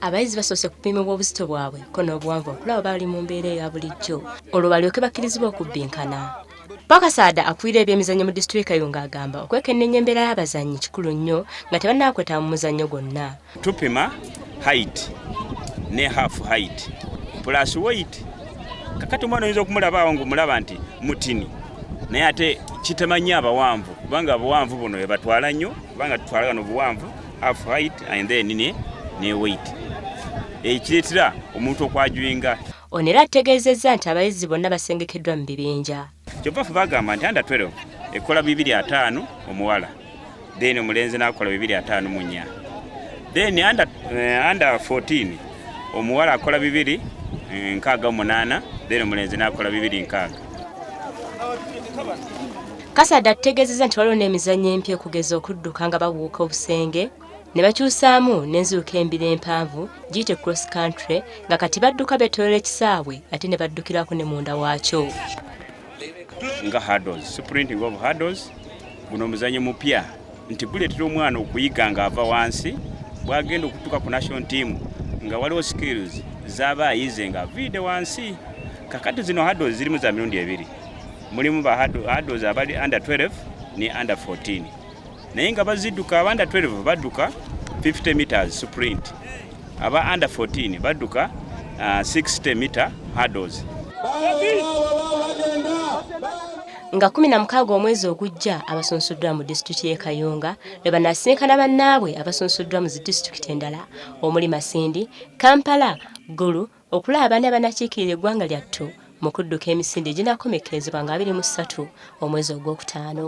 abayizi basoose kupimibwa obuzito bwabwe ko n'obuwanvu okulaba bali mu mbeera eya bulijjo olwo balyoke bakkirizibwa okubbinkana Bakasaada akulira ebyemizannyo mu disituliika eyo ng'agamba okwekenneenya embeera y'abazannyi kikulu nnyo nga tebannaakwetaba mu muzannyo gwonna tupima height ne half height plus weight kakati omwana oyinza okumulaba awo ng'omulaba nti mutini naye ate kitema nnyo abawanvu kubanga abawanvu buno ebatwala nnyo kubanga tutwala gano obuwanvu half height and then ne ne weight ekiretera omuntu okwajwinga ono era ategeezezza nti abayizi bonna basengekeddwa mu bibinja kyova fe bagamba nti anda 12 ekola bibiri ataano omuwala then omulenzi nakola bibiri ataano munya then anda eh, anda 14 omuwala akola bibiri eh, nkaaga omunaana then omulenzi nakola bibiri nkaaga Kasada ategeezezza nti waliwo n'emizannyo empya okugeza okudduka nga babuuka obusenge ne bakyusaamu n'enziruka embira empanvu giyite cross country nga kati badduka beetoolera ekisaawe ate ne baddukirako ne munda waakyo nga hardos sprinting of hardos guno omuzannyo mupya nti guleetera omwana okuyiga ng'ava wansi bw'agenda okutuuka ku national team nga waliwo skills z'aba ayize ng'aviide wansi kakati zino hardos zirimu za mirundi ebiri mulimu ba adults abali under 12 ne under 14 naye nga baziduka aba under 12 baduka 50 meters sprint aba under 14 baduka uh, 60 meter hurdles nga kumi na mukaaga omwezi ogujja abasunsuddwa mu disitulikiti y'e kayunga lwe banaasinkana bannaabwe abasunsuddwa mu zi disitulikiti endala omuli masindi kampala gulu Okulaba abaana abanakiikirira eggwanga lyattu mu kudduka emisinde eginaakomekkerezebwa nga abiri mu ssatu omwezi ogwokutaano.